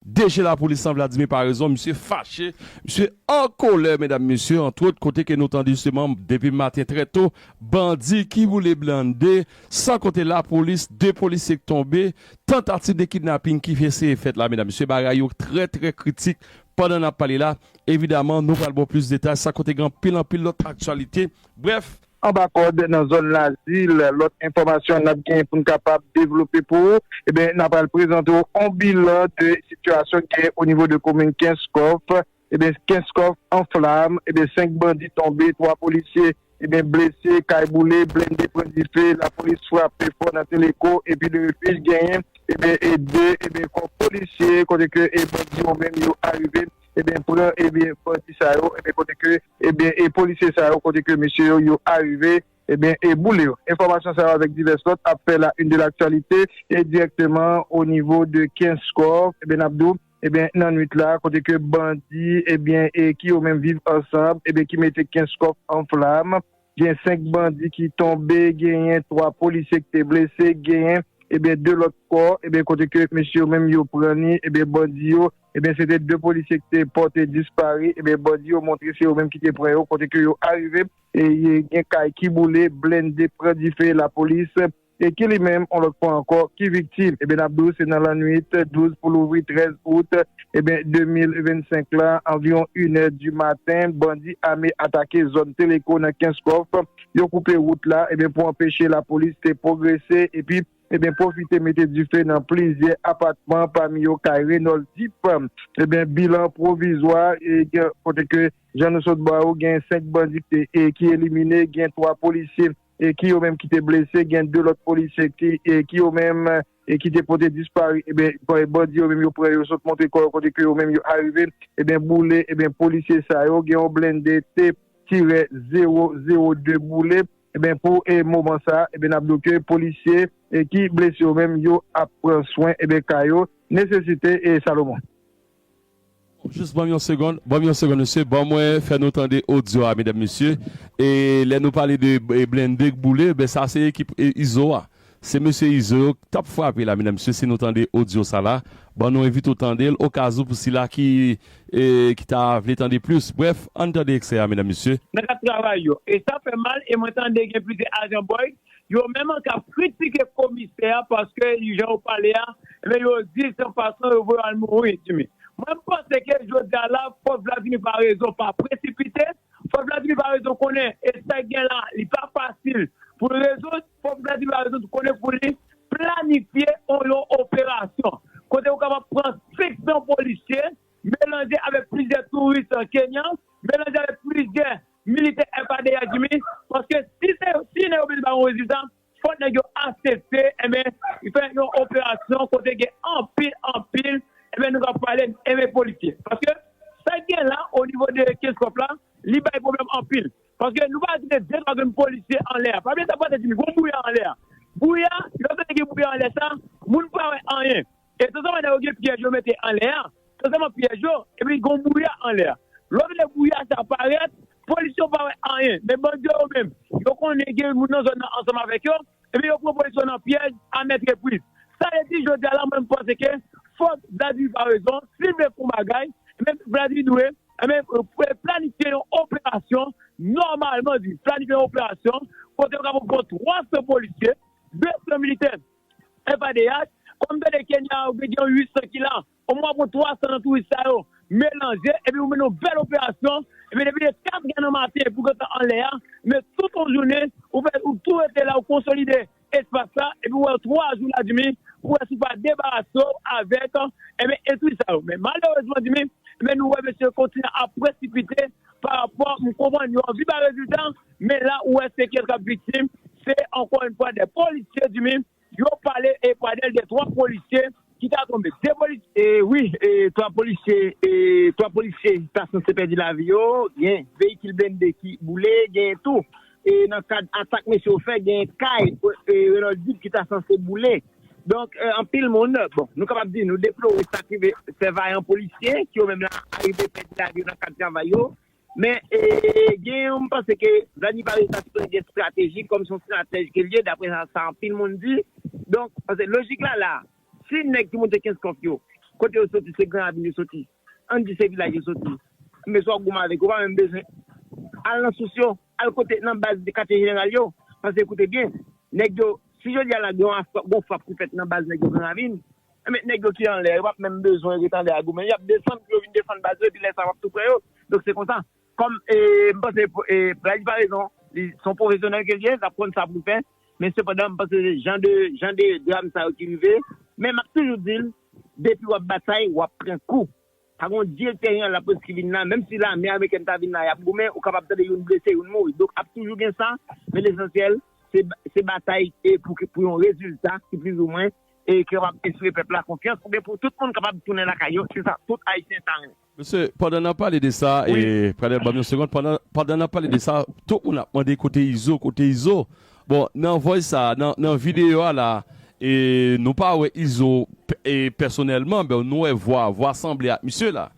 Deje lapolis lan Vladimir Paraison misye fache, misye an kolè medam mesye antwot kote ke nou tande jisteman depi maten trè to bandi ki boule blende san konte lapolis 2 polisye k tonbe tantativ de kidnaping ki eseye fèt la medam mesye bagay yo trè trè kritik pandan nap pale la evidaman nou pral baw plis detay san konte gen anpil anpil lòt aktyalite brèf Anba kòd nan zòn Lazil. Lòt enfòmasyon nap gen poun kapab devlope pou ou ebyen na pral prezante w on bilan de sitiyasyon ki gen o nivo de komin Kenskòf ebyen Kenskòf an flam ebyen 5 bandi tonbe 3 polisye ebyen blese kay boule blende pran dife lapolis frape fò nan teleko epi de refij genyen ebyen e 2 ebyen kò polisye kote ke e bandi yo menm yo arive Ebyen pran ebyen bandi sa yo ebyen kote ke ebyen e polisye sa yo kote ke mesye yo yo arive ebyen e boule yo. Enfòmasyon sa yo avèk divès lòt ap fè la une de l'actualité e dirèkteman o nivo de Kenskòf ebyen nap di w ebyen nan nwit la kote ke bandi ebyen e ki yo menm viv ansanb ebyen ki mete Kenskòf an flam. Gen 5 bandi ki tonbe, genyen 3 polisye ki te blese, genyen ebyen 2 lòt kò ebyen kote ke mesye yo menm yo pran ni ebyen bandi yo ebyen se te 2 polisye ki te pòte dispari ebyen bandi yo montre se yo menm ki te pran yo kote ke yo arive e gen kay ki boule, blende pran dife lapolis. e ki li menm, on lòt fwa ankò, ki viktim. Ebyen n ap di w se nan lannwit 12 pou louvri 13 out, ebyen 2025 la, anviwon inè di maten, bandi ame atake zòn Teleko nan Kenskòf, yo koupe wout la, ebyen pou anpeche lapolis te pwogrese, epi, ebyen pwofite mete dife nan plizyè apatman, pami yo kay Renold Deep. Ebyen bilan pwovizwa, e gen kote ke jan nou sot ba ou, gen 5 bandi ki te, ki elimine, gen 3 polisye ki yo menm ki te blese, gen 2 lòt polisye ki yo menm ki te pote disparu, ebyen bandi yo menm yo pran yo sot montre kò yo kote ke yo menm yo arive ebyen boule ebyen polisye sa yo, gen yon blende T tirè 0 0 2 boule, ebyen pou moman sa ebyen nap di w ke polisye ki blese yo menm yo ap pran swen ebyen ka yo, nesesite Salomon. Jus banm yon segond banm yon segond mesye ban mwen fè nou tande audio a medam mesye e lè nou pale de blende k boule ben sa se ekip izo a se mesye izo yo k tap frape la medam mesye si nou tande audio sa la ban nou envite w tandel okazou pou sila ki ki ta vle tande plus brèf ann tande ekstrè a medam mesye. Nan kad travay yo. E sa fè mal e mwen tande gen plizyè ajan Boyd Yo menm an kap kritike komisè a paske jan yo pale a ebyen yo di se yon fason yo vle yo al mouri Jimmy. Mwen m panse ke jodi a la fòk Vladimir Paraison pa presipite, fòk Vladimir Paraison konnen e sa gen la li pa fasil pou l rezoud, fòk Vladimir Paraison tou konnen pou li planifye on yon operasyon kote ou kapab pran 500 polisye melanje avèk plizyè touris kenyan, melanje avèk plizyè Militè FADH di wi, paske si se si nèg yo vle bay yon rezilta, fòk nèg yo asepte enben fè yon operasyon kote gen anpil anpil enben nou kab pale enben polisye. Paske sa k gen la onivo de Kenscoff la li bay pwoblèm anpil. Paske nou pa kite de twa grenn polisye anlè a. Pa bliye sa pase di nou, gen yon bwouya anlè a. Bwouya, lè w tande gen bwouya anlè sa, moun pa wè anyen. E san sèlman lè yo gen pyèj yo mete anlè a, san sèlman pyèj yo, epi gen yon bwouya anlè a. Lò vle bwouya sa a parèt, polis yo pa wè anyen, men bandi yo yo menm, yo konnen gen moun nan zòn nan ansanm avèk yo, ebyen yo pran polis yo nan pyèj a mèt repriz. Sa vle di jodi a la mwen m panse ke fòk Vladimir pa rezon, si l vle fè yon bagay, ebyen Vladimir dwe, ebyen planifye yon operasyon, nòmalman di, planifye yon operasyon kote yo kapab pran 300 polisye, 200 militè. Epa de yas, kòm m tande Kenya yo gen yon 800 ki la, omwen wap pran 300 nan touris sa yo melanje epi pou mennen yon bèl operasyon, ebyen depi de 4 gè nan maten pou gentan anlè a, ebyen tout yon jounen ou fè ou tou rete la ou konsolide espas la epi ou wè yo 3 jou ladmi pou wè si ou pa debarase w avèk ebyen entri sa yo. Men malerezman dmi ebyen nou wè mesye yo kontinye ap presipite parapò m konprann yo anvi bay rezilta Men la ou wè se kiyès kap viktim, se ankò yn fwa dè polisye di min yo pale e pradèl dè 3 polisye ki ta tonbe, 2 polisye. Wi, 3 polisye, 3 polisye ta sanse pèdi lavi yo, gen veyikil blende ki boule, gen tou e nan kad atak mesye yo fè gen kay Renold Duc ki ta sanse boule. Donk anpil moun, bon nou kapab di nou deplore sak rive sè vayan polisye ki yo menm la arive pèdi lavi yo nan kad travay yo Men, gen yon m panse ke Vladimir pa resi asepte gen strateji kòm se yon stratèj ke l ye dapre sa anpil moun di. Donk, paske lojik la la a, si nèg ki moute Kenskòf yo, kote yo soti se Gran Ravin yo soti, ann di se vilaj yo soti, enben si w ap goumen avèk yo, ou pa menm bezwen al nan sous yo, al kote nan baz katye jeneral yo. Paske koute byen, nèg yo, si jodi a la gen yon frap ki fèt nan baz nèg yo Gran Ravin, Anmèt nèg yo ki anlè yo pap menm bezwen ret anlè a goumen yap desann pou yo vin defann baz yo epi lè sa wap tou pran yo donk se konsa kòm m panse Praise pa rezon li son pwofesyonèl ke l ye lap konn sa pou l fè men sepandan m panse jan de jan de dram sa yo ki rive men map toujou di l depi wap batay wap pran kou. Pa gen yon direktè gen lapolis ki vin la, menm si lame amerikèn ta vin la yap goumen, ou kapab tande youn blese youn mouri, donk ap toujou gen sa, men lesansyèl se batay pou yon rezilta ki plizoumwen ki kapab enspire pèp la konfyans oubyen pou tout moun kapab tounen lakay yo, se sa tout ayisyen ta renmen. Mesye, pandan nap pale de sa, Pradel banm yon segond, pandan nap pale de sa, tout moun ap mande kote Izo, kote Izo? Bon nan voice sa nan video a la nou pa wè izo pèsonèlman but nou wè vwa, vwa sanble ak misye la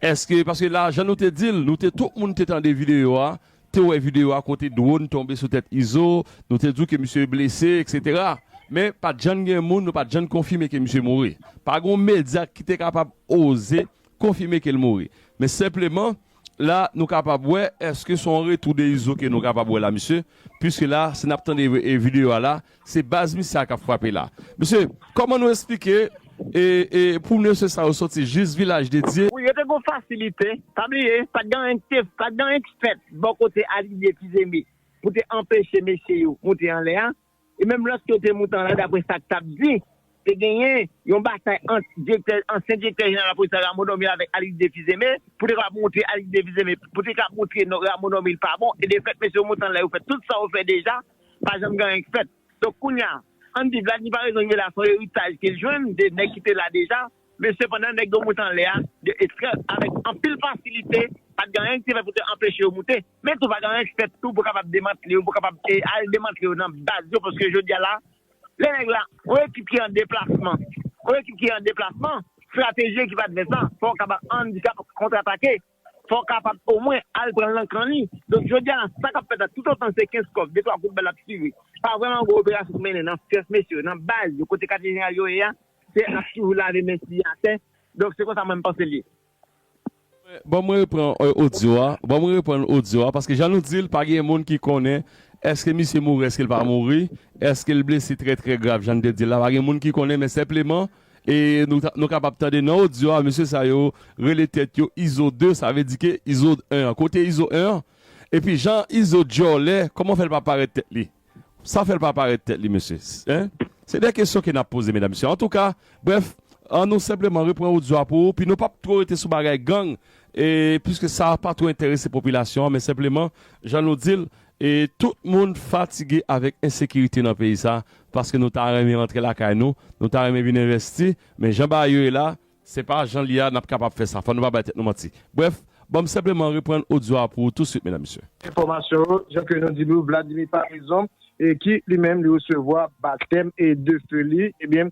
eske paske la jan nou te dil nou te tout moun te tande video a te wè video a kote drone tonbe sou tèt izo nou te diw ke misye blese etc men pat jann gen moun nou pat jann konfime ke misye mouri pa gon medya ki te kapab oze konfime kel mouri men senpleman La nou kapab wè eske son retou de izo ke nou kapab wè la mesye puiske la si nap tande video a la se baz misye a kap frape la mesye koman nou esplike e pou mesye sa yo soti jis vilaj de dye. Wi yo te gon fasilite pa bliye pat gen anyen kite pat gen anyen ki fèt bò kote Alidye Tizeme pou te anpeche mesye yo moute anlè a e menm lòt kote Moutan la daprè sa k t ap di te genyen yon batay ant direktè ansyen direktè jeneral lapolis la Rameau Normil avèk Alix de Fils-Aimé pou te kapab montre Alix de Fils-Aimé pou te kapab montre non Rameau Normil pa bon e de fèt mesye Moutan la yo fè tout sa yo fè deja pa janm gen anyen k fèt donk kounya ann di Vladmi Paraison Rive la son eritaj ke l jwenn de nèg ki te la deja. Men sepandan, nèg yo moute anlè a de estrè avèk anpil fasilite, pa t gen anyen ki te fèt pou te anpeche yo moute, men tou pa gen anyen ki fèt tou pou kapab demantle yo, pou kapab al demantle yo nan baz yo, paske jodi a la, lè nèg la, yon ekip ki an deplasman, yon ekip ki an deplasman, strateji ekip advès la, fò w kapab andikap kontratake. fò w kapab omwen al pran l nan kan li. Donk jodi a la, sa k ap fèt la, toutotan se Kenskòf, detwa kout bal ap tire, pa vrèman gen operasyon k ap mennen nan kès mesye yo, nan baz yo, kote katye jeneral yo ye a, se n ap toujou lave men siye atè. Donk se konsa mwen m panse l ye. Bon mwen repran odyo a, bon mwen reprann odyo a, paske jan nou di l, pa gen moun ki konnen èske misye mouri, èske l pa mouri, èske l blese trè trè grav jan n te di l la, pa gen moun ki konnen men senpleman, E nou kapab tande nan odyo a mesye sa yo rele tèt yo izo 2 sa vle di ke izo 1 an kote izo 1 an epi jan izo djòlè kòman fè l pa parèt tèt li sa fè l pa parèt tèt li mesye hein se de kesyon ke n ap poze medam mesye antouka brèf an nou senpleman repran odyo a pou ou pi nou p ap two rete sou bagay gang e piske sa pa two enterese popilasyon an men senpleman jan nou di l E tout moun fatige avèk ensekirite nan peyi sa paske nou ta renmen rantre lakay nou, nou ta renmen vin envèsti men jan bagay yo ye la se pa jan li ye a n ap kapab fè sa fò nou pa bay tèt nou manti. Brèf, ban m senpleman reprann odyo a pou ou touswit medam mesye. Enfòmasyon yo, jan ke nou di nou Vladimir Paraison ki li menm li resevwa batèm de feu li ebyen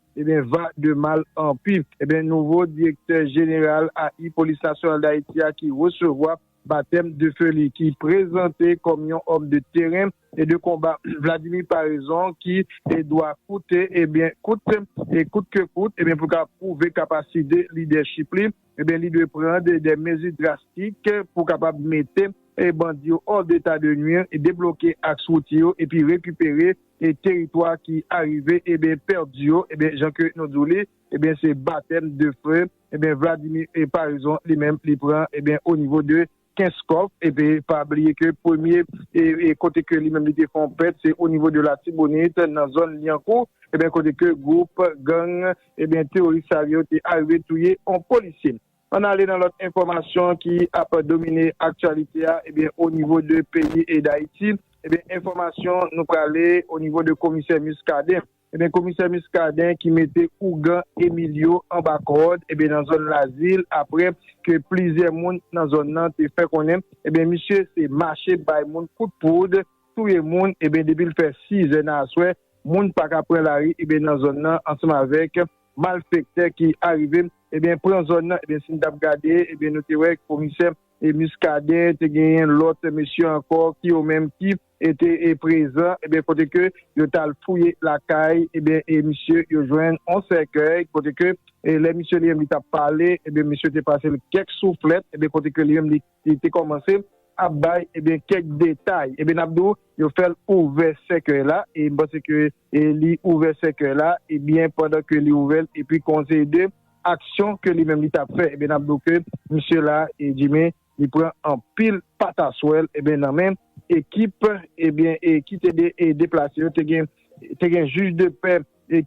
Ebyen va de mal an pi. Ebyen nouvo direktè jeneral AI Polis Nasyonal Dayiti a ki resevwa batèm de feu li ki prezante kòm yon homme de terrain et de combat Vladimir Paraison ki dwa koute ebyen koute e kout ke kout ebyen pou l ka pwouve kapaside lidèchip li. Ebyen li dwe pran de mezi drastik pou kapab mete bandi yo hors d'etat de nuire, debloke aks wouti yo epi rekipere teritwa ki arive ebyen pèdi yo ebyen jan ke nou di w li ebyen se batèm de feu ebyen Vladimir Paraison li menm li pran ebyen o nivo de Kenskòf epi pa bliye ke premye kote ke li menm li te fè yon pèt se o nivo de Latibonit nan zòn Lyankou ebyen kote ke gwoup gang ebyen teworis sa yo te arive touye yon polisye. Ann ale nan lòt enfòmasyon ki ap domine aktyalite a ebyen o nivo de peyi Dayiti ebyen enfòmasyon nou prale o nivo de komisè Muscadin Ebyen komisè Muscadin ki mete ougan Emilio anba kòd ebyen nan zòn Lazil aprè ke plizyè moun nan zòn nan te fè konnen ebyen misye se mache bay moun kout poud, touye moun ebyen depi l fè 6 zè nan aswè moun pa ka pran lari ebyen nan zòn nan ansanm avèk malfèktè ki arive ebyen pran zòn nan ebyen si n t ap gade ebyen nou te wè komisè Muscadin te genyen lòt mesye ankò ki yo menm ki. e te prezan ebyen kote ke yo tal fouye lakay ebyen e misye yo jwenn yon sèkèy kote ke lè misye li menm li tap pale ebyen misye te pasel kèk souflèt ebyen kote ke li menm li te kòmanse ap bay ebyen kèk detay ebyen nap di w yo fèl ouvè sèkèy la e m panse ke li ouvè sèkèy la ebyen pandan ke li ouvèl epi kon se de aksyon ke li menm li tap fè ebyen nap di w ke misye la Jimmy li pran anpil pataswèl ebyen nan men ekip ebyen ki te deplase yo te gen te gen jij de pè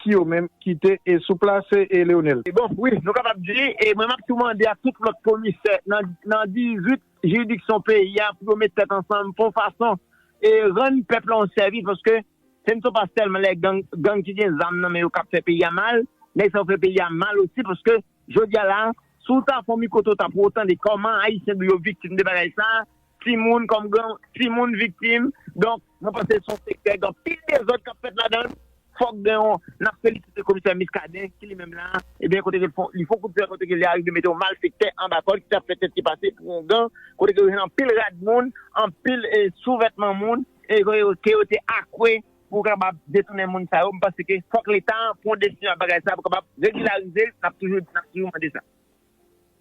ki yo menm ki te sou plas Leonel. Bon, wi, nou kapab di, e mwen map tou mande ak tout lòt komisè nan 18 jiridiksyon peyi a pou yo met tèt ansanm pou yon fason e rann pèp la yon sèvis paske se n se pa sèlman lè gang gang ki gen zam nan men yo kap fè peyi a mal nèg sa yo fè peyi a mal osi paske Jodi a la, si w ta fon mikro to ta pou w tande kòman Ayisyen di yo viktim de bagay sa, timoun kòm gran timoun viktim. Donk, mwen panse son sektè gen anpil dezòd k ap fèt ladan l. Fòk gen yon, n ap felisite komisè Muscadin ki li menm la, ebyen kote ke l fon, li fon kout pwen kote ke li arive mete yon malfektè anba kòd ki t ap fè tèt li pase pou yon gang, kote ke yo jwenn anpil rad moun, anpil souvètman moun, e ke yo te akwe. Pou kapab detounen moun sa yo, m panse ke fòk leta an pran yon desizyon ak bagay sa a pou kapab regilarize l, n ap toujou di, n ap toujou mande sa.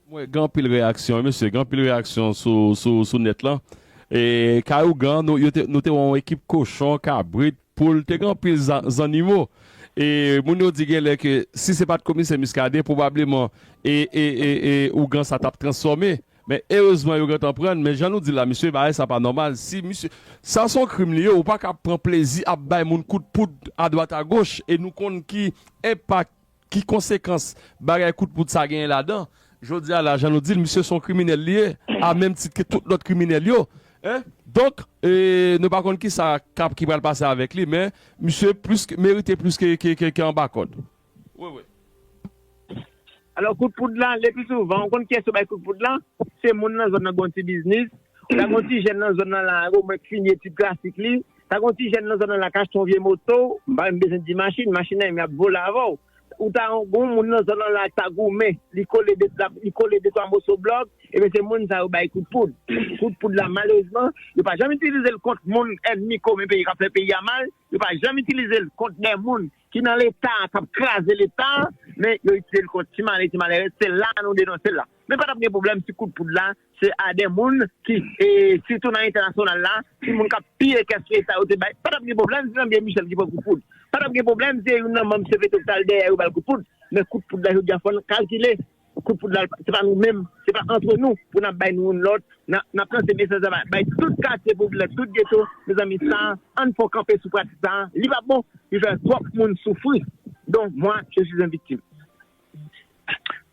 M wè gen anpil reyaksyon wi mesye, gen anpil reyaksyon sou nèt lan. Kay ougan, nou te wè yon ekip kochon, kabrit, poul, te gen anpil zannimo. Moun yo di gen lè ke si se pa t komisè Muscadin, pwobableman ougan sa t ap transfòme. Men erezman yo gentan prann men jan nou di la misye bagay sa pa nòmal si misye sa son krim li ye ou paka ap pran plezi ap bay moun kout poud adwat agoch e nou konn ki enpak ki konsekans bagay kout poud sa genyen ladan jodi a la jan nou dil misye son kriminèl li ye a menm tit ke tout lòt kriminèl yo hein donk e nou pa konn kisa kap ki pral pase avèk li men misye plis ke merite plis ke ke anba kòd. Wi wi. Alò kout poud la le pi souvan ou konn kiyès yo bay kout poud la se moun nan zòn nan gon ti biznis ou ta gon ti jèn nan zòn nan la o mwen k fini etid klasik li ta gon ti jèn nan zòn nan la k achte yon vye moto m pa menm bezwen di machin machin nan menm yap vole avè w ou ta gon moun nan zòn nan la k ta goumen li kole de lap li kole de twa moso blòk ebyen se moun sa yo bay kout poud kout poud la malerezman yo pa janm itilize l kont moun ènmi komen peyi k ap fè peyi a mal yo pa janm itilize l kont de moun ki nan leta a kap kraze leta a men yo itilize l kont ti malè ti malèrèz se la nou denonse l la men patap gen pwoblèm si kout poud la se a de moun ki e sitou nan entènasyonal la si moun kap piye kès leta yo te bay patap gen pwoblèm si André Michel ki pran kout poud patap gen pwoblèm si se youn nan manm cpt ki tal dèyè yo bal kout poud men kout poud la jodi a fòn kalkile Kout foud la se pa nou menm, se pa antre nou pou nap bay youn lòt, nap lanse mesaj la bay tout katye popilè, tout geto, mezanmi sa ann fon kanpe sou pratik sa, li pa bon, li fè twòp moun soufri don mwa je suis un victime.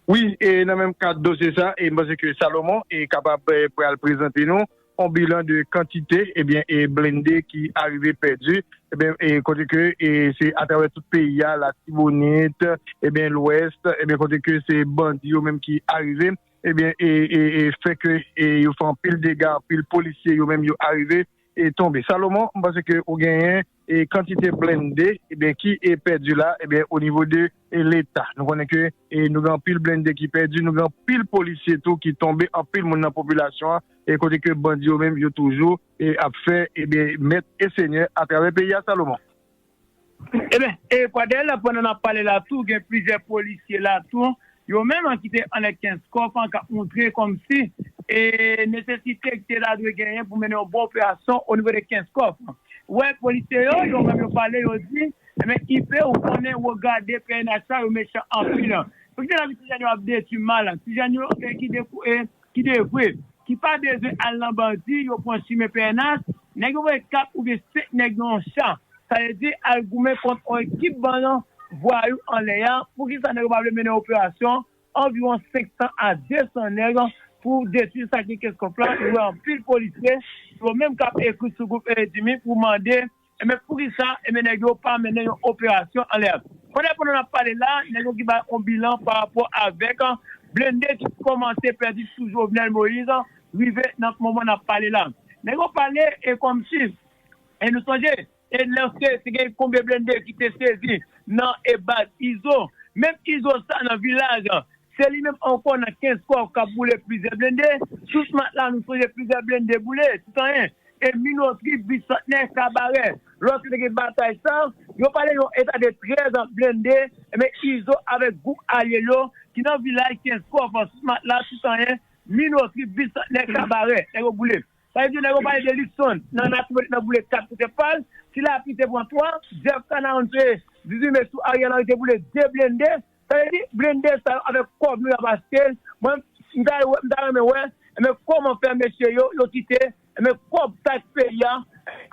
Wi, e nan menm kad dosye sa, e m panse ke Salomon kapab pral prezante nou on bilan de kantite ebyen e blende ki arive pèdi ebyen e kote ke e se atravè tout peyi a latibonit ebyen lwès ebyen kote ke se bandi yo menm ki arive ebyen e e e fè ke e yo fè anpil dega anpil polisye yo menm yo arive e tonbe Salomon m panse ke ou genyen E kantite blende ebyen ki e pèdi la ebyen o nivo de e leta nou konnen ke e nou gen anpil blende ki pèdi nou gen anpil polisye tou ki tonbe anpil moun nan popilasyon an e kote ke bandi yo menm yo toujou e ap fè ebyen mèt e senyè a travè peyi a Salomon. Ebyen e Pradel pandan nap pale la tou gen plizyè polisye la tou Yo menm an ki te anlè Kenskòf an k ap montre kòmsi e nesesite ki te ta dwe genyen pou mennen yon bon operasyon onivo de Kenskòf an. Wè polisye yo, yo menm yo pale, yo di, Enben IP ou konnen wou gade pnh la yo mechan anpil. Pou ki sa n ap di ti jèn yo ap detwi mal la? Ti jèn yo ki dekou e ki devwe, ki pa bezwen al nan bandi yo pran chimen pnh, nèg yo voye 4 oubyen 5 nèg nan yon cha, sa vle di al goumen kont yon ekip bann vwayou anlè a, poukisa nèg yo pa vle mennen operasyon anviwon 500 a 200 nèg pou detwi sa ki nan kès kòf la, nou wè anpil polisye yo menm kap ekri sou gwoup Eredimi pou mande. Enben poukisa enben nèg yo pa mennen yon operasyon anlè a. Konnè pandan nap pale la nèg yo ki bay on bilan pa rapò avèk blende ki kòmanse pèdi sou Jovenel Moïse rive nan moman nap pale la. Nèg yo pale e kòmsi e nou sonje e lè se te gen konbyen blende ki te sezi nan e baz Izo. Menm Izo sa nan vilaj se li menm ankò nan Kenskòf kap boule plizyè blende. Sous matla nou sonje plizyè blende boule tout anyen. E minotri bisantnè kabarè lò ke te gen batay sa, yo pale yon eta de 13 an blende enben Izo avèk gwoup alye l yo ki nan vilaj 15 kòf smat la tout anyen minotri bisantnè kabarè nèg yo boule. Sa vle di nèg yo pale de Luckson nan Latibonit nan boule 4 kote pa l, Tilapli te pran 3, Jeff Canaán se 18 me sou Ariel Henry te boule 2 blende Sa vle di blende sa yo avek kob nou yap achtel mwen m ta m ta renmen wè enben koman fè mesye yo yo kite enben kob tax peyi a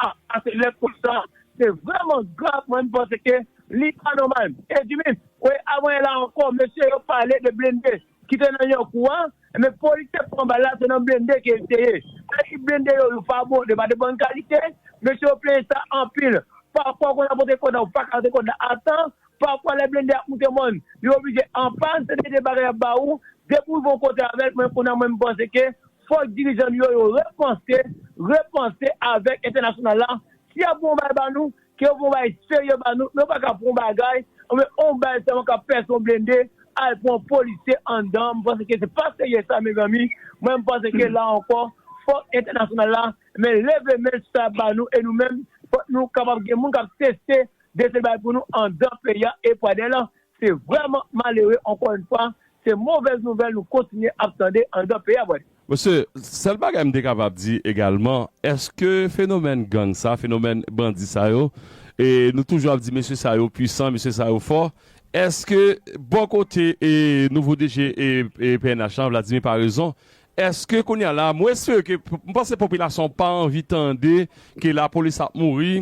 ap pase lè konsa se vreman grav mwen m panse ke li pa nomal edimi we avan e la anko mesye yo pale de blende kite nan yankou a enben polisye pran bal la se nan blende ke li te ye sa vle di blende yo yo pa bon yo pa de bon kalite mesye yo plenyen sa anpil pafwa konn apote kod la ou paka apote kod la atan Pafwa lè blende ap moute mòn, li oblije anpàn, se te 2 bagay yap ba ou, depi ou rive yon kote avèl, mwen kounya mwen mpanse ke fòk dirijan nou yo yo repanse, repanse avèk entènasyonal la, si yap pran yon bagay ba nou, ke yo pran yon bagay serye ba nou, men yo paka pran yon bagay, oubyen yon bal sèlman kap pèse yon blende, al pran yon polisye anndan, mpanse ke se pa serye sa mezanmi, mwen mpanse ke la ankò fòk entènasyonal la men leve menl sou sa yap ba nou, e nou menm fòk nou kapab gen moun kap teste Dese bay pou nou andan peyi a e pwa dèl se vrèman malere ankò yn fwa se movèz nouvèl nou kontinye ap tande andan peyi a pwa dèl. Mesye, sèl bagay m te kapab di egalman, èske fenomèn gang sa, fenomèn bandi sa yo, e nou toujou ap di mesye sa yo pwisan, mesye sa yo fò, èske bò kote nouvo DG pnh lan, Vladimir Paraison, Eske kounya la mwen espere ke m panse popilasyon an pa anvi tande ke lapolis ap mouri,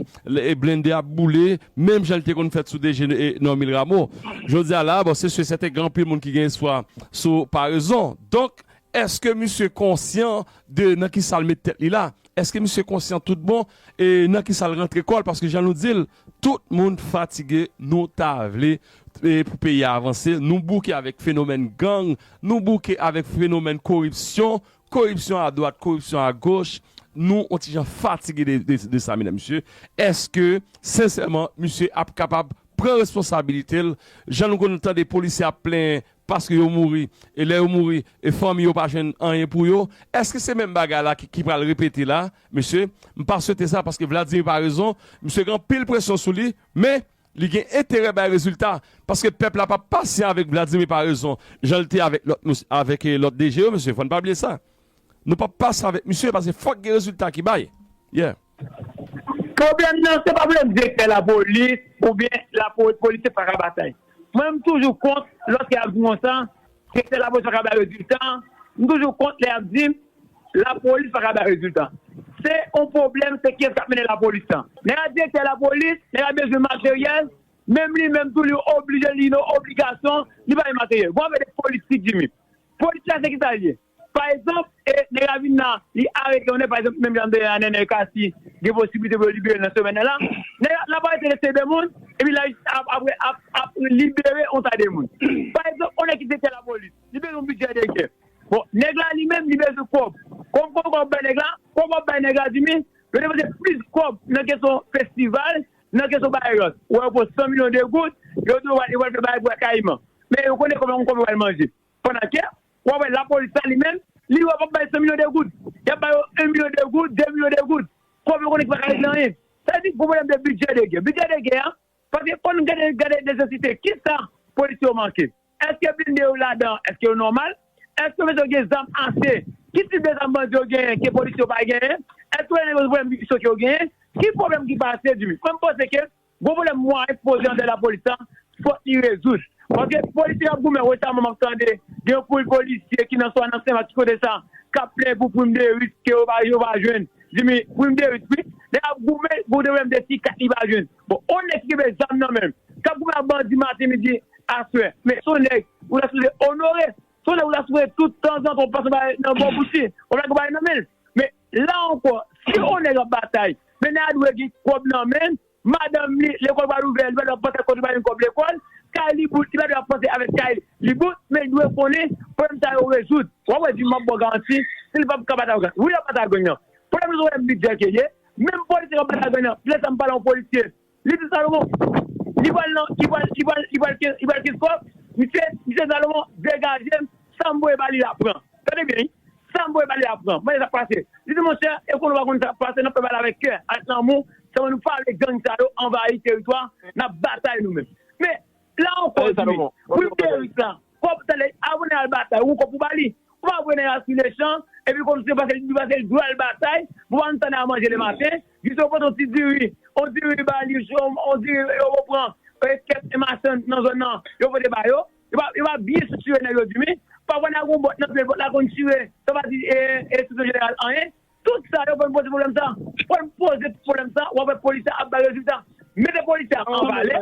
blende ap boule menm jan li te konn fèt sou DG Normil Rameau. Jodi a la bon se si e sèten gen anpil moun ki gen espwa sou parezon. Donk eske misye konsyan de nan kisa l met tèt li la? Eske misye konsyan tout bon e nan kisa l rantre kò l? Paske jan nou di l, tout moun fatige nou ta vle pou peyi a avanse, nou bouke avèk fenomèn gang, nou bouke avèk fenomèn koripsyon, koripsyon a dwat, koripsyon a goch, nou on ti jan fatige de sa medam mesye, eske sensèman misye ap kapab pran responsabilite l, jan nou konn tande polisye ap plenyen paske yo mouri, e lè yo mouri e fanmi yo pa jwenn anyen pou yo, eske se menm bagay la ki pral repete la mesye, m pa swete sa paske Vladimir Paraison misye gen anpil presyon sou li, men Li gen enterè bay rezilta, paske pèp la pa pasyan avèk Vladimir Paraison jan l te avèk lòt mous avèk lòt DG yo mesye fò n pa bliye sa nou pa pasyan avèk misye paske fòk gen rezilta ki bay yeah. Pwoblèm nan se pa pwoblèm direktè lapolis oubyen lapolis polisye pa ka batay mwen m toujou kont lòske y ap di m konsa direktè lapolis pa ka bay rezilta m toujou kont lè y ap di m La polis pa ka bay rezilta. Se yon pwoblèm se kiyès kap mennen la polis la. Lè yap direktè la polis, lè yap bezwen materyèl, menm li menm tou li oblije li gen yon obligasyon li bay materyèl. Bon avèk polis ti Jimmy. Polis la se kisa li ye? Pa egzanp e nèg la vin la li arete yon nèg pa egzanp menm jan de a Nenel Cassy gen posibilite pou yo libere l nan semèn nan la. Nèg la lap arete lese de moun epi la jistis ap apre ap ap libere yon ta de moun. Pa egzanp yon nèg ki direktè la polis li bezwen yon bidjè de gè. Bon nèg la li menm li bezwen kòb kòm kòb ap bay nèg la kòb ap bay nèg la di min yo depanse plis kòb nan kesyon festival nan kesyon bagay lòt wè yo pran 100 milyon de goud yo di yo pral fè bagay pou kayiman men yo konnen kòb la gon kòb yo pral manje pandan ke wap wè lapolis la li menm li wè yo pap bay 100 milyon de goud yap ba yo 1 milyon de goud 2 milyon de goud kòb yo konnen ki paka regle anyen sa vle di gon pwoblèm de bidjè de gè bidjè de gè a Paske fò n gade gade nesesite kisa polisye yo manke. Eske blinde yo ladan an? Eske yo nòmal? Eske polisye yo gen zam ase? Ki tip de zam bandi yo genyen ke polisye yo pa genyen? Eske yo gen pwoblèm ki sòt yo genyen? Ki pwoblèm ki pase di wi? Mwen m panse ke gwo pwoblèm mwayen ki poze anndan lapolis la fòk li rezoud. Paske polisye k ap goumen resaman m ap tande gen yon poul polisye ki nan swa nan Senmak ki kote sa k ap plenyen pou prim de risk ke yo pa jwenn. Jimmy pou yon derit wi. Nèg la ap goumen pou yon derit de ti kat li pa jwenn. Bon yon nèg ki genbe zam nan menm. Kap goumen ak bandi maten midi aswè. Men son nèg ou ta sipoze onore. Son nèg ou ta sipoze tout tanzantan ou pase yon bagay nan bò bouch li. Wap lage yon bagay nan menl. Men la ankò si yon nèg ap batay. Men nèg la dwe gen kòb nan menl. Madanm li, lekòl pral ouvè, li pa dwe ap panse ak kote li pral jwenn kòb lekòl. Kay li bout, li pa dwe ap panse avèk kay li bout, men li dwe konnen pwoblèm sa yo rezoud. Wap wè di m ap ba w garanti si li pap ka bat ak gang. Wi l ap bat ak gang nan. Pwoblèm li se pwoblèm lidè ke l ye. Menm polisye k ap bat ak gang nan, lè sa m pale yon polisye, li di Salomon, li pral nan, li pral, li pral, li pral kenskòf, misye, misye Salomon degaje m, Sam voye ba li la pran. Tande byen wi. Sam voye ba li la pran. Mande sak pase. Li di monchè e konnen ou pa konn sak pase nap fè bagay la avèk kè, avèk lanmou, selman nou pale gang sa yo anvayi teritwa nap batay nou menm. Men, la ankò jimmy, pou li te rik la, kòb tande avan nèg al batay ou gon kòb pou ba li. Ou pa voye nèg la sou lechan epi kòm se paske li paske li dwe al batay pou pa antan al manje le maten, jis yo pote yon ti diri, yon diri ba li, yon diri yo pran kèk machann nan zòn nan yo pote ba yo. Yo pa byen sou tire nèg yo di wi. Pafwa nan gon bòt nan pye lòt la konn tire sa pa di enstriksyon jeneral anyen. Tout sa yo konn poze pwoblèm sa. Fòl poze pwoblèm sa wap wè polis la ap bay rezilta. Mete polis la an valè,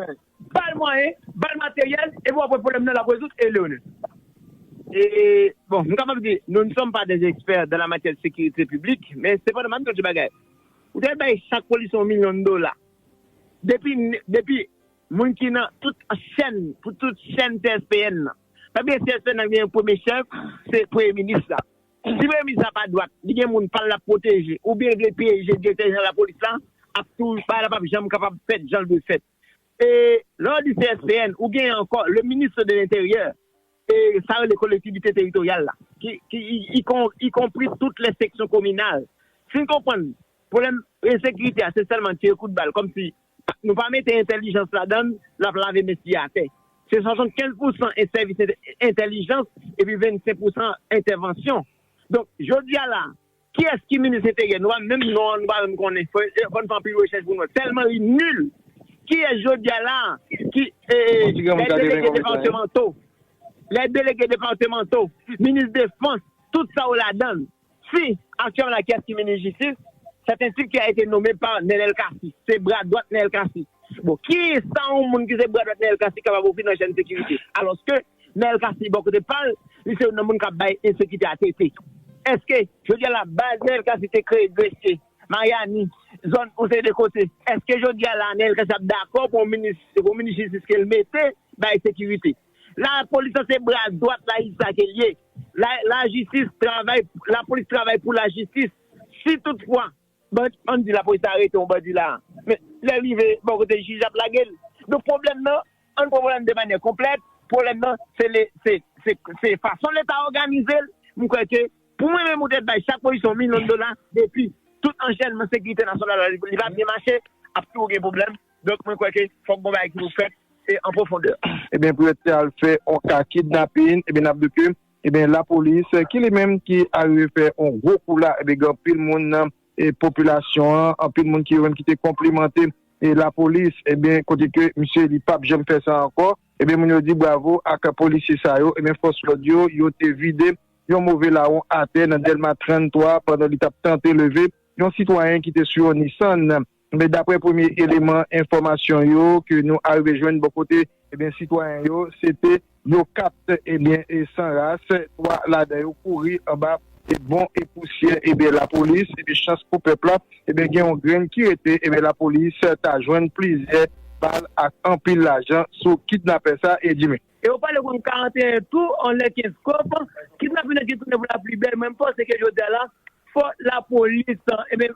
bal mwayen, bal materyèl epi wap wè pwoblèm nan lap rezoud e leonè. Bon m kapab di nou n sòm pa dè ekspè dan la matyè de sekirite piblik men sepandan map di nou ti bagay. Ou te bay chak polisye yon milyon dola depi Moun ki nan tout chèn pou tout chèn CSPN nan. Sa vle di CSPN nan gen yon premye chèf, se Premye Minis la. Si Premye Minis la pa dwat, li gen moun pa l l ap pwoteje oubyen l vle pyeje Direktè Jeneral Lapolis la, ap tou bagay la p ap janm kapab fèt jan l dwe fèt. E lè w di CSPN, ou genyen ankò le Ministre de l'Intérieur e sa yo rele Kolektivite Teritoryal la ki ikonpri tout lè seksyon kominal. Si n konprann pwoblèm ensekirite a se sèlman tire kout bal kòmsi Nou pa mete entèlijans ladan l, l ap lave men siye atè. Se 75 pousan en sèvis entèlijans epi 25 pousan entèvansyon. Donk, jodi a la, kiyès ki minis enteryè? Nou pa menm non an nou pa menm konnen. Fò n fè anpil rechèch pou nou wè. Tèlman li nul. Kiyès jodi a la ki lè delege departemanto, lè delege departemanto, minis defans, tout sa yo ladan l. Si, aktyèlman la kiyès ki minis jistis? Sèt un tip ki a ete nome pa Nenel Cassy, se bra dwat Nenel Cassy. Bon, ki sa yon moun ki se bra dwat Nenel Cassy kapab ofri nan chèn sekirite? Alòske, Nenel Cassy bò kote pa l, li se youn nan moun k ap bay ensekite a tete. Eske, jodi a la, baz Nenel Cassy te kreye Gresye, Maryani, zòn yon seri de kote, eske jodi a la Nenel Cassy ap dakò pou yon minis, se pou yon minis jistis ke l mete, bay sekirite? La polis lan se bra dwat la jis la ke liye. La la jistis travay la polis travay pou la jistis. Si tout fwa bandi an di la polis la arete yon bandi la men lè rive bò kote jij ap lage l. Donk pwoblèm nan an pran pwoblèm nan de manyè konplèt. Pwoblèm nan se le se se se fason leta òganize l. M kwè ke pou mwen menm ou te bay chak polisye yon milyon dola depi tout anchènman sekirite nasyonal la li pa byen mache ap toujou gen pwoblèm. Donk mwen kwè ke fòk gon bagay ki pou fèt e an pwofondè. Ebyen pou yo te al fè on ka kidnapin ebyen nap di ke ebyen la polis ki li menm ki arive fè on gwo kou la ebyen gen anpil moun nan popilasyon an anpil moun ki yo menm ki te konplimante e la polis ebyen kote ke misye li pap janm fè sa ankò ebyen moun yo di bravo ak polisye sa yo ebyen fòs lòd yo yo te vide yon move lawon atè nan dèlma 33 pandan li tap tante leve yon sitwayen ki te sou yon nissan. Ebyen daprè premye eleman enfòmasyon yo ke nou arive jwenn bò kote ebyen sitwayen yo se te yo 4 ebyen san ras 3 ladan yo kouri anba e bon e pousyè ebyen lapolis epi chans pou pèp la ebyen gen yon grenn ki rete ebyen lapolis ta jwenn plizyè bal ak anpil lajan sou kidnapè sa Edimy. E yo pale konn 41 tou an lè 15 kòb, kidnapin nan ki tounen pou la pli bèl mwen panse ke jodi a la fò la polis ebyen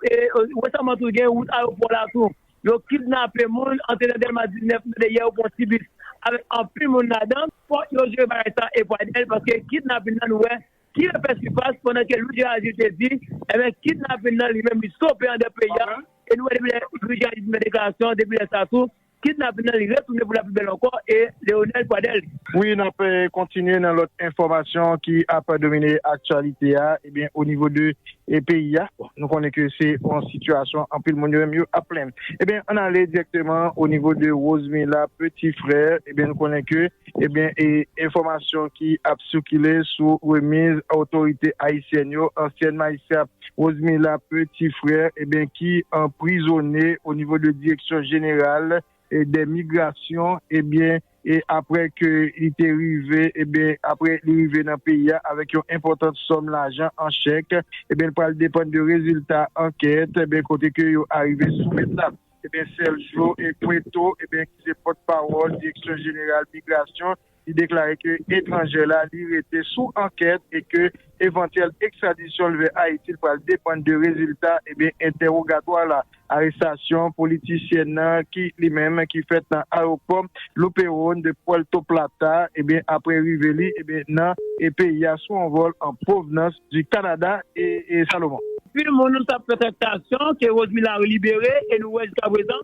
resaman tou gen wout ayopò la tou yo kidnape moun antre nan dèlma 19 mtande yè yo pran ti bis avèk anpil moun ladan. Fò yo jere bagay sa e Pradel paske kidnapin nan nou wè ki refè sipas pandan ke Louis Gérard Gilles te di ebyen kidnapin nan li menm li stope andè peyi a e nou wè depi lè Louis Gérard Gilles te fè deklarasyon depi lè sa tou Kidnapin nan li retounen pou lapi bèl ankò e Leonel Pradel. Wi nap kontinye nan lòt enfòmasyon ki ap domine aktyalite a ebyen o nivo de peyi a bon nou konnen ke se yon sitiyasyon anpil moun yo menm yo ap plenn ebyen ann ale dirèkteman o nivo de Rosemila peti frè ebyen nou konnen ke ebyen e enfòmasyon ki ap sikile sou remiz otorite ayisyèn yo ansyèn majistra Rosemila Petit Frère eben ki anprizone o nivo de direksyon jeneral dè migrasyon eben e aprè ke li te rive eben aprè li rive nan peyi a avèk yon enpòtant sòm lajan an chèk eben li pral depann de rezilta ankèt eben kote ke yo arive soumèt la eben Sergio Cueto eben ki se pòtpawòl direksyon jeneral migrasyon Li deklare ke etranjè la li rete sou ankèt e ke evantyèl ekstradisyon l vè Ayiti l pral depann de rezilta entèwogatwa la. Arestasyon politisyèn nan ki li menm ki fèt nan ayewopò Luperón de Puerto Plata apre rive li nan peyi a sou yon vòl an pwovnans di Kanada e Salomon. Anpil moun tap fè trèktasyon ke Rose Miller libere e nou wè jiskaprezan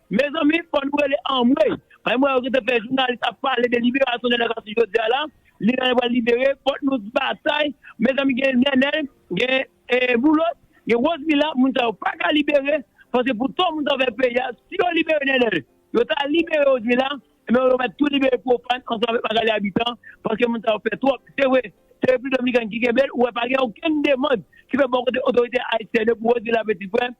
Mezanmi fò nou rele anmweyy. An m wè yo gentan fè jounalis ap pale de liberasyon nènèl cassy jodia la li la yo pral libere fòk nou t batay mezanmi gen nènèl gen boulos gen rosemila moun sa yo paka libere paske pou to moun sa yo fè peyi a si yo libere nènèl yo ta libere rosemila ebyen yo mèt tou libere profane ansanm avèk magalie habitant paske moun sa yo fè twòp se vre se repiblik dominican ki kenbel ou wè pa gen okenn demand ki fè bò kote otorite ayisyèn yo pou rosemila petit frè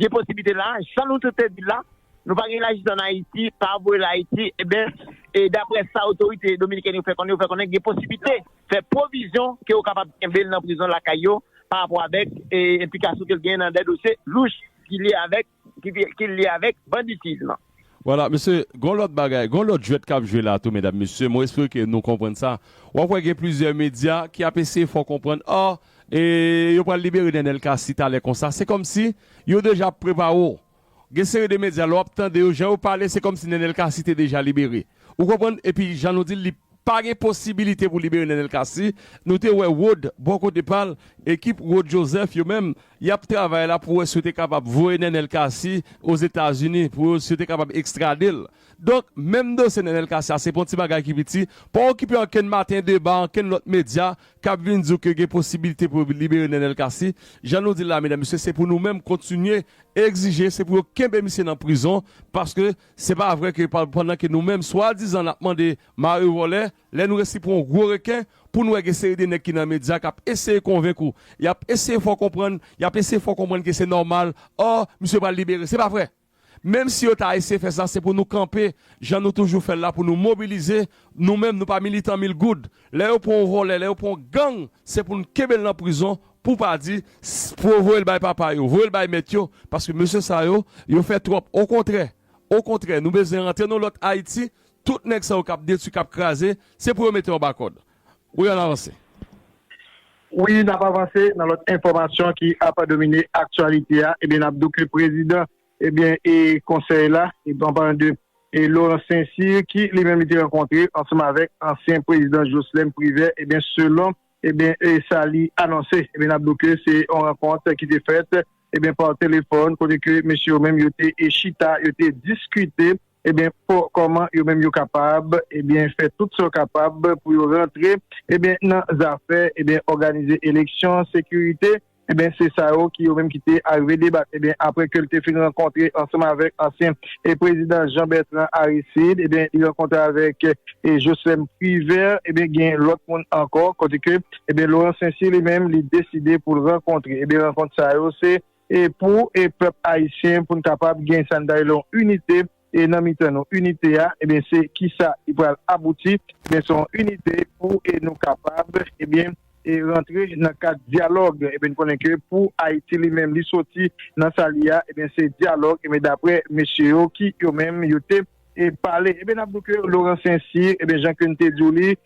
gen posiblite la, jan nou tout te di l la, nou pa gen lajistis ann Ayiti, pa voye l Ayiti, enben, e daprè sa otorite dominikèn yo fè konnen, yo fè konnen gen posiblite fè pwovizyon ke yo kapab kenbe l nan prizon lakay yo parapò avèk enplikasyon ke l genyen nan dè dosye louch ki lye avèk banditism. Wala mesye, gon lòt bagay, gon lòt jwèt kap jwe la tou medam mesye, mwen espere ke nou konprann sa. Wap wè gen plizyè medya ki ap eseye fè w konprann ah e yo pral libere Nenel Cassy talè konsa, se kòmsi yo deja ap prepare w. Gen seri de medya lè wap tande yo jan yo pale se kòmsi Nenel Cassy te deja libere. Ou konprann? Epi jan nou di l li Pa gen posibilite pou libere Nenel Cassy, nou te wè Rod bò kote pa l, ekip Rod Joseph yo menm, y ap travay la pou wè si yo te kapab voye Nenel Cassy Ozetazini, pou yo si yo te kapab ekstrade l. Donk, menm dosye Nenel Cassy a se pa yon ti bagay ki piti, pa okipe ankenn maten deba, ankenn lòt medya k ap vin di w ke gen posibilite pou yo libere Nenel Cassy, jan nou di l la medam mesye se pou nou menm kontinye egzije se pou yo kenbe misye nan prizon paske Se pa vre ke pandan ke nou menm swadizan nap mande mare vòlè, lè nou resi pran yon gwo reken, pou nou wè gen seri de nèg ki nan medya kap eseye konvenk ou, yap eseye fè w konprann, yap eseye fè w konprann ke se nòmal, oh, misye pral libere. Se pa vre! Menm si yo ta eseye fè sa, se pou nou kanpe jan nou toujou fè l la pou nou mobilize Nou menm nou pa militan mil goud. Lè yo pran yon vòlè, lè yo pran yon gang, se pou nou kenbe l nan prizon pou pa di pou voye l bay papa yo, voye l bay mèt yo, paske mesye sa yo, yo fè twòp. Okontrè, okontrè, nou bezwen rantre nan yon lòt Ayiti, tout nèg sa yo k ap detwi, k ap kraze, se pou yo mete anba kòd. Wi ann avanse. Wi n ap avanse nan lòt enfòmasyon ki ap domine aktyalite a, ebyen n ap di w ke prezidan Ebyen e konsèy la, an palan de Laurent Saint-Cyr ki li menm li te rankontre ansanm avèk ansyen prezidan Jocelerme Privert, ebyen selon ebyen e sa li anonse, ebyen nap di w ke se yon rankont ki te fèt ebyen pa telefòn kote ke mesye yo menm yo te chita, yo te diskite ebyen pou kòman yo menm yo kapab ebyen fè tout sa yo kapab pou yo rantre ebyen nan zafè ebyen òganize eleksyon, sekirite. Enben, se sa yo ki yo menm ki te arive debak. Enben, apre ke l te fin rankontre ansanm avèk ansyen prezidan Jean Bertrand Aristide, enben, li rankontre avèk Jocelerme Privert, enben, gen lòt moun ankò, kote ke, enben, Laurent Saint-Cyr li menm li deside pou l rankontre. Enben, rankont sa yo se pou pèp ayisyen, pou n kapab gen sa n ta rele yon inite, e nan mitan nou inite a ebyen se kisa li pral abouti ebyen se yon inite pou e nou kapab ebyen e rantre nan kad dyalòg ebyen n konnen ke pou Ayiti li menm li soti nan sa li a ebyen se dyalòg ebyen daprè mesye yo ki yo menm yo te e pale ebyen n ap di w ke Laurent Saint-Cyr ebyen jan ke n te di w li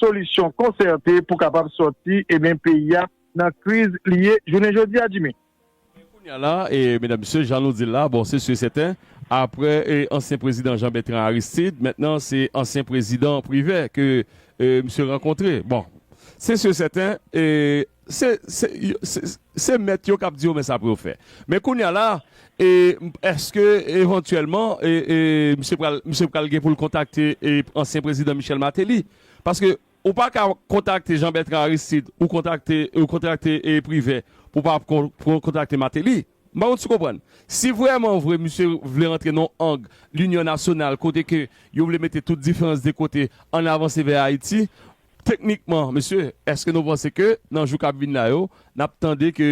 solisyon konsète pou kapab sòti ebyen peyi a nan kriz li ye jounen jodi a Jimmy. Ebyen kounye a la e medam mesye jan nou dil la bon se si e sèten aprè e ansyen prezidan Jean Bertrand Aristide mentnan se ansyen prezidan Privè ke e misye rankontre bon se si e sèten e Se, se, se, se mèt yo k ap di yo men sa pou yo fè. Men kounye a la, e, èske evantyèlman, e, e, misye pral, misye pral gen pou l kontakte, e, ansyen prezidan Michel Martelly? Paske ou pa ka kontakte Jean Bertrand Aristide, ou kontakte, ou kontakte, e, Privert, pou w pa kon, kon, kontakte Martelly. M pa konn si w konprann. Si vrèman vre misye vle rantre nan yon ang linyon nasyonal kote ke yo vle mete tout diferans de kote, ann avanse vè Ayiti, Teknikman, mesye, èske nou panse ke nan jou k ap vin la yo, n ap tande ke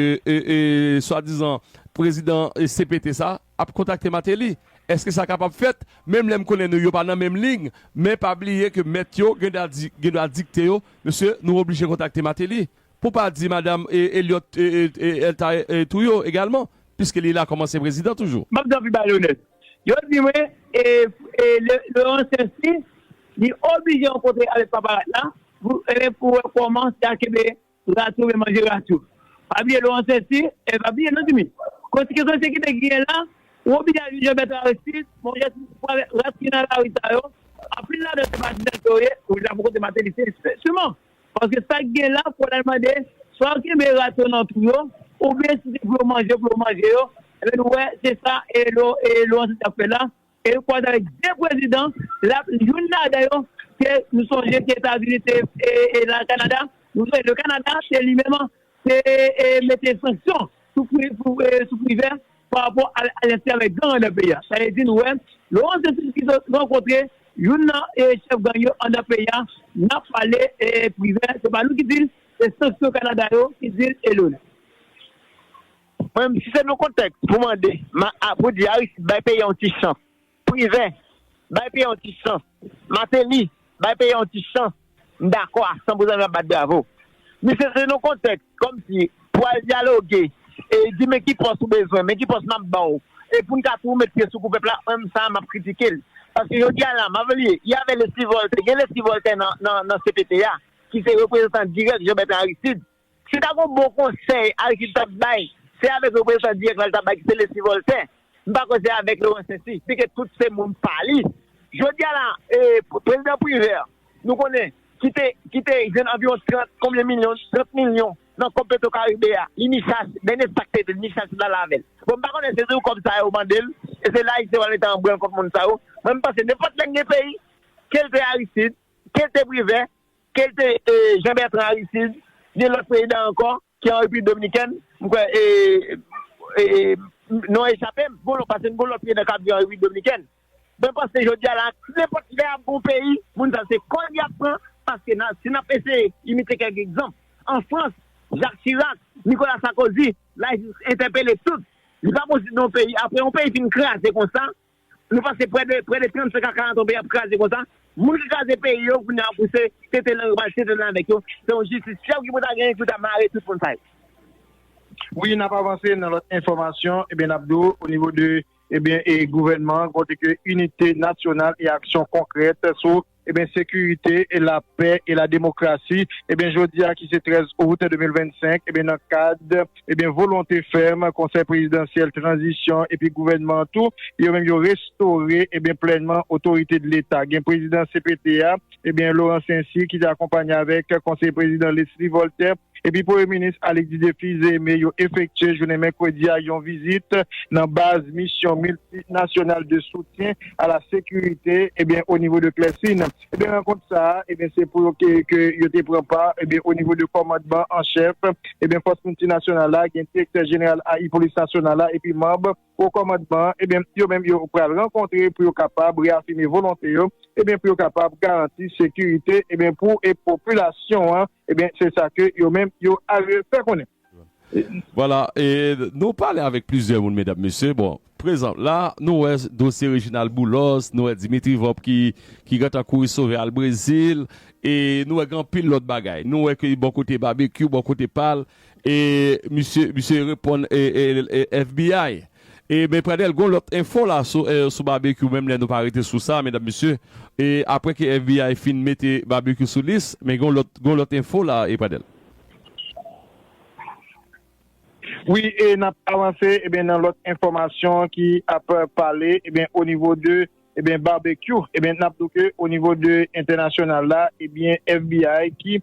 swadizan prezidan CPT sa ap kontakte Mateli? Èske sa kapab fèt? Menm lè m konnen nou yo pa nan menm lig, men pa bliye ke mèt yo gen dwa dikte yo, mesye, nou oblije kontakte Mateli. Pou pa di madam Elliot el ta tou yo egalman piske li la kòm ansyen prezidan toujou. Map gen anpil malonèt. Yo di mwen le ansyen si li oblije rankontre avèk paparat la pou wè kòman sa kenbe ratou vle manje ratou. Pa bliye le ansyen si e pa bliye non Jimmy. Konsekans ensekite ki gen la ou oblije al jwenn Jean-Bertrand Aristide monchè si pou avèk rat ki nan lari sa yo anpil ladan se patizan sa yo ye ou la pou kote Martelly se siman. Paske sa k gen la, pou al mande, swa yo kenbe rat yo nan twou yo, oubyen si se pou yo manje yo, pou yo manje yo. Enben nou wè, se sa Laurent Saint ap fè la. E li kwaze avèk 2 prezidan, l ap youn ladan yo ke nou sonje ke Etazini te, e la Kanada, nou sonje le Kanada se li menm Se mete sanksyon sou Privè pa rapò a alyans li avèk gang anndan peyi a. Sa vle di nou wè Laurent Dessalines ki sot rankontre youn nan chèf gang yo anndan peyi a nan pale Privè. Se pa nou ki di l, se sanksyon Kanada yo ki di l Elone. Mwen menm si se nou kontèks pou mande, pou di Aristide bay peyi a yon ti chans. Privè, Bay peyi yon ti chans. Mateli, Bay peyi yon ti chans. M dakò a san pou zanmi ap bat bravo. Misye se yon kontèks kòm si pou al dyaloge e di men ki pòs ou bezwen, men ki pòs m ap ba w e pou n ka tou met pye sou kou pèp la, menm sa a m ap kritike l. Paske jodi a la, Mavelier, y avè Lesly Voltaire, gen Lesly Voltaire nan CPT a ki se reprezantan dirèk Jean Bertrand Aristide. Si ta gon bon konsèy Aristide tap bay, se avèk reprezantan dirèk la li ta bay ki se Leslie Voltaire, m pa kwè se avèk Laurent Sainty, byen ke tout se moun pa li. Jodi a la, prezidan Privert, nou konnen, ki te, ki te jwenn anviwon 30 konbyen milyon, 30 milyon nan kòb Petro Caribe a, li ni chas, dènye sa k te di l, ni chas li t al avè l. Bon, m pa konnen se toujou kòb sa yo mande l, e se la Ayisyen pral mete anbranl kont moun sa yo. Mwen m panse nenpòt lè k gen peyi, ke l te Aristide, ke l te Privert, Kel te Jean Bertrand Aristide, gen lòt prezidan ankò ki an Repiblik Dominikèn, m kwè non an echape m, bon paske m gen yon lòt prezidan kap viv an Repiblik Dominikèn. Mwen panse jodi a la a nenpòt lè ap gen yon peyi moun sa yo se kòd yap pran paske si nap eseye imite kèk egzanp an Frans Jacques Chirac, Nicolas Sarkozy, la jistis entèpele tout. Li pa posib nan yon peyi aprè yon peyi fin kraze konsa Nou pase prè de 35 a 40 an peyi a ap kraze konsa, moun ki kraze peyi yo kounye a pou se tenten nan yo pral tenten nan avèk yo, se yon jistis fyèb ki pou ta genyen ki pou ta mare tout moun sa yo. Wi nap avanse nan lòt enfòmasyon ebyen nap di w o nivo de ebyen e gouvènman kote ke inite nasyonal e aksyon konkrèt sou. Ebyen sekirite e la pè e la demokrasi ebyen jodi a ki se 13 out 2025 ebyen nan kad ebyen volonte fèm konsèy prezidansyèl tranzisyon epi gouvènman an tou yo menm yo restore ebyen plènman otorite de leta gen prezidan cpt a ebyen Laurent Saincy ki te akonpanye avèk konseye prezidan Leslie Voltaire epi Premye Minis Alix Didier Fils-Aimé yo efektye jounen mèkredi a yon vizit nan baz Misyon Miltinasyonal de Soutyen a la Sekirite o nivo de Clercine. Rankont sa a se pou yo ke yo te pran pa o nivo de Kòmandman an Chèf Fòs Miltinasyonal la, gen Direktè Jeneral ai Polis Nasyonal la epi manb Wo Kòmandman an. Yo menm yo pral rankontre pou yo kapab reyafime volonte yo pou yo kapab garanti sekirite pou popilasyon an. Ebyen se sa ke yo menm yo ale fè konnen. Vwala, e nou pale avèk plizyè moun medam mesye, bon, prezanp la nou wè dosye Reginald Boulos, nou wè Dimitri Vorb ki gentan kouri sove al Brezil, e nou wè gen anpil lòt bagay. Nou wè ke bò kote Babekyou, bò kote pa l, E misye misye reponn FBI. E men Pradel gon lòt enfo la sou Barbecue menm lè nou pa rete sou sa medam mesye e aprè ke FBI fin mete Barbecue sou lis men gon lòt gon lòt enfo la e Pradel. Wi e nap avanse ebyen nan lòt enfòmasyon ki ap pale ebyen o nivo de ebyen Barbecue ebyen nap di w ke o nivo de entènasyonal la ebyen FBI ki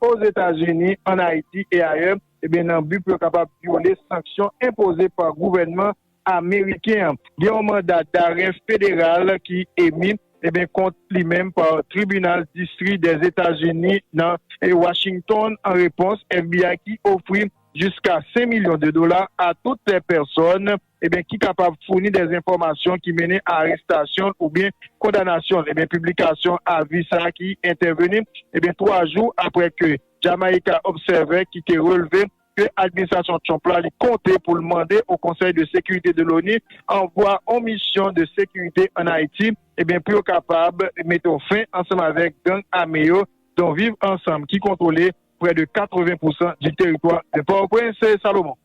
Ozetazini, an Ayiti e ayè, ebyen nan bi pou yo kapab vyole sanksyon enpoze pa gouvènman ameriken an. Gen yon manda darè federal ki emi, ebyen kont li menm pa Tribinal Distri dè Etazini nan Washington an repons FBI ki ofri jiska 5 milyon de dola a tout pèsòn ebyen ki kapab founi dè enfòmasyon ki mennen a arestasyon l oubyen kondanasyon l ebyen piblikasyon avi sa a ki entèveni ebyen 3 jou aprè ke Jamaica Observer ki te relve ke administrasyon Trump la li konte pou l mande o Konsèy de Sekirite de l'ONU anvwa on misyon de sekirite an Ayiti ebyen pou yo kapab mete on fen ansanm avèk gang ame yo don Viv Ansanm ki kontwole prè de 80 pousan di teritwa de Pòtoprens Salomon.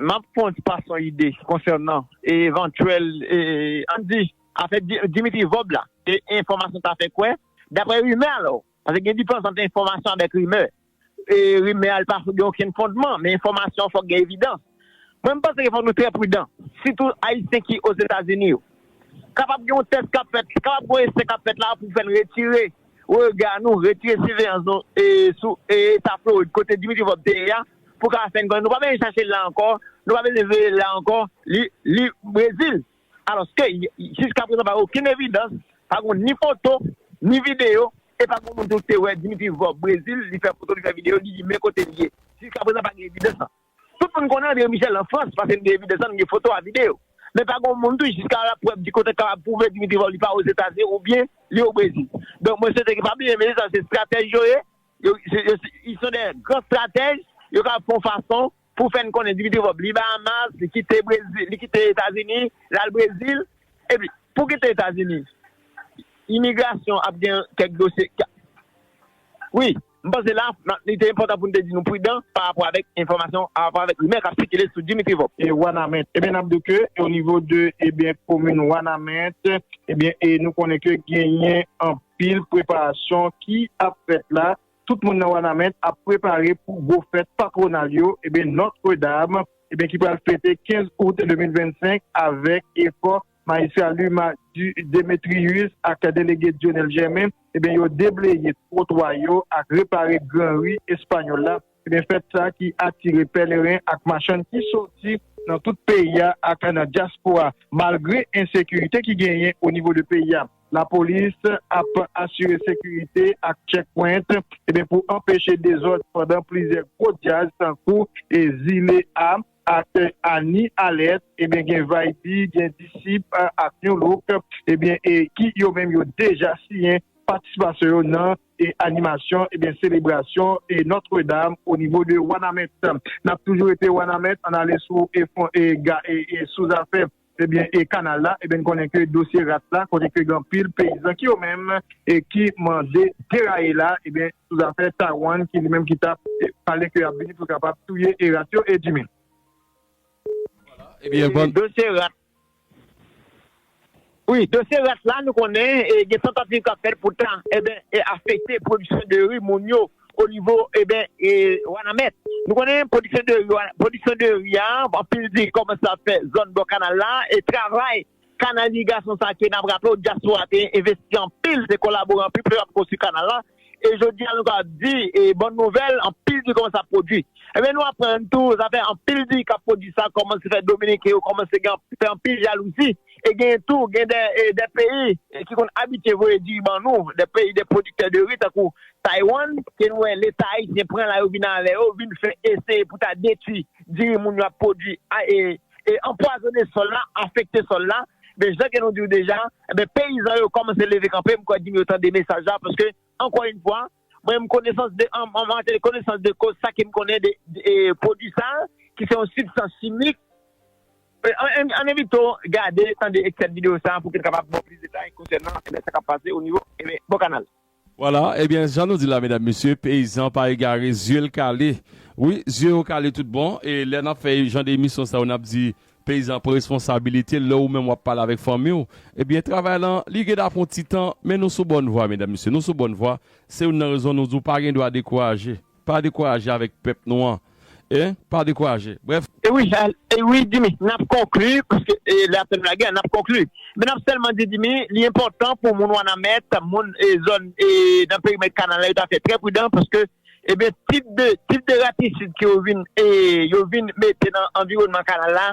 M ap fon ti pas yon ide konsènan evantyèl, an n di, afè Dimitri Vob la. Se enfòmasyon ta fè kwè, daprè rimè alò, paske gen diferans ant enfòmasyon avèk rimè. Rimè a li pa gen okenn fondman, men enfòmasyon an fòk gen evidans. Mwen m panse ke fòk nou trè pridan, sitou Ayisyen ki Ozetazini yo. Kapab gen yon tès k ap fèt, kapab gen yon esè k ap fèt la pou fè n retire rega nou, retire siveyans nou sou eta Florid kote Dimitri Vorbe te ye a pou ka fè n konnen nou pa bezwen chache l la ankò, nou pa bezwen veye l la ankò, li Brezil. Alòske jiskaprezan pa gen okenn evidans, pa gen ni foto, ni videyo e pa gen yon moun tou ki te wè Dimitri Vorbe Brezil, li fè foto, li fè videyo, li di men kote l ye. Jiskaprezan pa gen evidans sa. Tout moun konnen André Michel an Frans paske n gen evidans la, n gen foto a, videyo. Men pa gon moun tou jiska laprèv di kote k kapab pwouve Dimitri Vorbe pa Ozetazini oubyen li o Brezil. Donk mwen swete ke pa bliye mesye sa yo se stratèj yo ye, ils sont des grands stratèges, yo kapab fè yon fason pou fè n konnen Dimitri Vorbe li Bahamas, li kite Brezil, li kite Etazini, l al Brezil. Epi pou w kite Etazini, imigrasyon ap gen kèk dosye, wi. M panse la, li te enpòtan pou n te di nou pridan pa rapò avèk enfòmasyon, pa rapò avèk rimè k ap sikile sou Dimitri Vorbe. E Wanament? Ebyen n ap di w ke o nivo de ebyen komin Wanament, ebyen e nou konnen ke genyen anpil preparasyon ki ap fèt la. Tout moun nan Wanament ap prepare pou gwo fèt patwonal yo, ebyen Notre Dame, ebyen ki pral fete 15 out 2025 avèk efò Majistra Luma Demetrius ak Delege Dionel Germain yo debleye twotwa yo ak repare gran ri Espanyòl la, fèt sa ki atire pèleren ak machann ki soti nan tout peyi a ak nan dyaspora. Malgre ensekirite ki genyen o nivo de peyi a, lapolis ap asire sekirite ak checkpoint pou anpeche dezòd pandan plizyè gwo dyaz tankou Zile a, Aktè Annie Alès ebyen gen Vaibi, gen Disip ak Nu Look ebyen e ki yo menm yo deja siyen patisipasyon yo nan e animasyon ebyen selebrasyon e Notre Dame o nivo de Wanament. Nap toujou rete Wanament ann ale sou e fon e ga e e sou zafè Ebyen e kanal la ebyen n konnen ke dosye ras la kote ke gen anpil peyizan ki yo menm e ki mande deraye la ebyen sou zafè Taiwan ki li menm ki tap pale ke ap vini pou kapab touye e ras yo e Jimmy. Dosye ras wi dosye ras la nou konnen e gen tantativ kap fèt pou ta ebyen afekte pwodiksyon de ri moun yo o nivo eben wanamèt nou konnen pwodiksyon de ri pwodiksyon de ri a anpil di kòmanse ap fè zòn bò kanal la e travay kanal irigasyon sa ke nap raple w dyaspora te envesti anpil te kolabore anpil pou te kapab konstwi kanal la e jodi a nou kapab di e bòn nouvèl anpil diri kòmanse ap pwodwi eben nou aprann tou zafè anpil diri kap pwodwi sa kòmanse fè dominiken yo kòmanse gen fè anpil jalouzi e genyen tou gen de peyi ki konn abitye voye diri ban nou de peyi de pwodiktè de ri tankou Taiwan, ke nou wè leta ayisyen pran la yo vin avè yo, vin fè eseye pou ta detwi diri moun yo ap pwodwi e anpwazone sòl la, afekte sòl la, men jan ke nou diw deja, enben peyizan yo kòmanse leve kanpe, m kwè di m yo tande mesaj la, paske ankò yn fwa, mwen m konesans de an matery konesans de koz sa ke m konnen de pwodwi sa, ki se yon sibstans chimik, an evito gade, tande ekstrè de video sa pou ke n kapab baw plis detay konsènan sa kap pase o nivo bò kanal. Voilà ebyen jan nou di la medam mesye peyizan pa egare zye l kale wi zye yo kale tout bon e lè nap fè jan de emisyon sa yo nap di peyizan pran responsabilite l lè ou menm wap pale avèk fanmi w ebyen travay lan li gen ta pran ti tan men nou sou bòn vwa medam mesye nou sou bòn vwa se youn nan rezon nou di w pa gen dwa dekouraje. Pa dekouraje avèk pèp nou an eh pa dekouraje brèf. Ewi ewi Dimy nap konkli paske lè ap fèm lagè nap konkli men nap sèlman di Dimy li enpòtan pou moun wanamèt moun zòn nan perimèt kanal la yo ta fè trè pridan paske ebyen tip de tip de ratisid ke yo vin yo vin mete nan anviwònman kanal la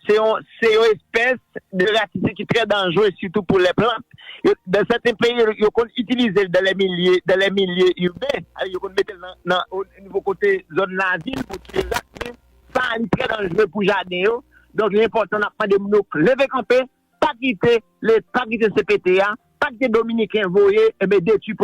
Se yon espès de ratifik ki trè danjre sitou pou lè plant. Nan sèten peyi, yo konn itilize l dan lè milye iben, yo konn mete l nan nivo kote zòn lavil pou tiye rat, men sa li trè danjre pou jaden yo. Donk li enpòtan n ap mande moun yo leve kanpe, pa kite cpt a, pa kite dominiken voye detui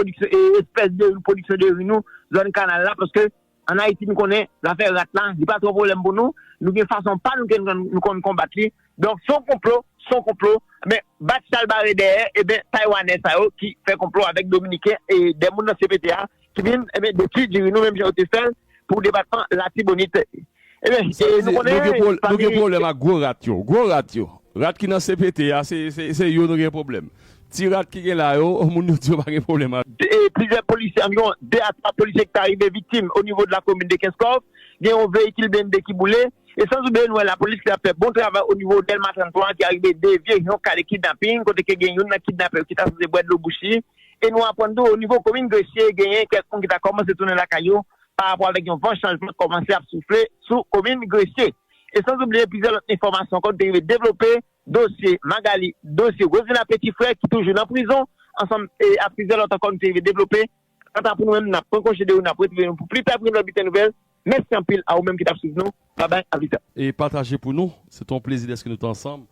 espès de pwodiksyon de ri nou zòn kanal la paske An Ayiti nou konnen zafè rat la li pa twò pwoblèm pou nou, nou gen fason pa nou ke nou konn konbat li, donk son konplo, son konplo, men bat chal bare dèyè eben taywanè sa yo ki fè konplo avèk dominiken e 2 moun nan CPT a ki vin eben detwi diri nou menm jan yo te fèl pou depatman latibonit. Sa vle di nou gen nou gen pwoblèm ak gwo rat yo. Gwo rat yo. Rat ki nan CPT a se se yo nou gen pwoblèm. Ti rat ki gen la yo, moun yo di yo pa gen pwoblèm ak. Plizyè polisye, anviwon 2 a 3 polisye ki ta rive viktim onivo de la komin de Kenskòf. Gen yon veyikil blende ki boule. E san oubliye nou wè lapolis ki ap fè bon travay onivo Dèlma 33 an ki arive devye yon ka de kidnaping kote ke gen youn nan kidnapè yo ki ta sipoze bwè dlo bouch li. E nou aprann tou onivo komin Gresye genyen kèk moun ki ta kòmanse tounen lakay yo parapò avèk yon van chanjman k kòmanse ap soufle sou komin Gresye. E san oubliye plizyè lòt enfòmasyon ankò nou te rive devlope, dosye Magali, dosye Rosmila Peti Frè ki toujou nan prizon, ansanm ak plizyè lòt ankò nou te rive devlope. Kanta pou nou menm, n ap pran konje de ou, n ap retwouve nou pou pli pè pou yon lòt bilten nouvèl. Mèsi anpil a ou menm ki t ap swiv nou. Babay, aplita. E pataje pou nou. Se te yon plezi dèske nou te ansanm.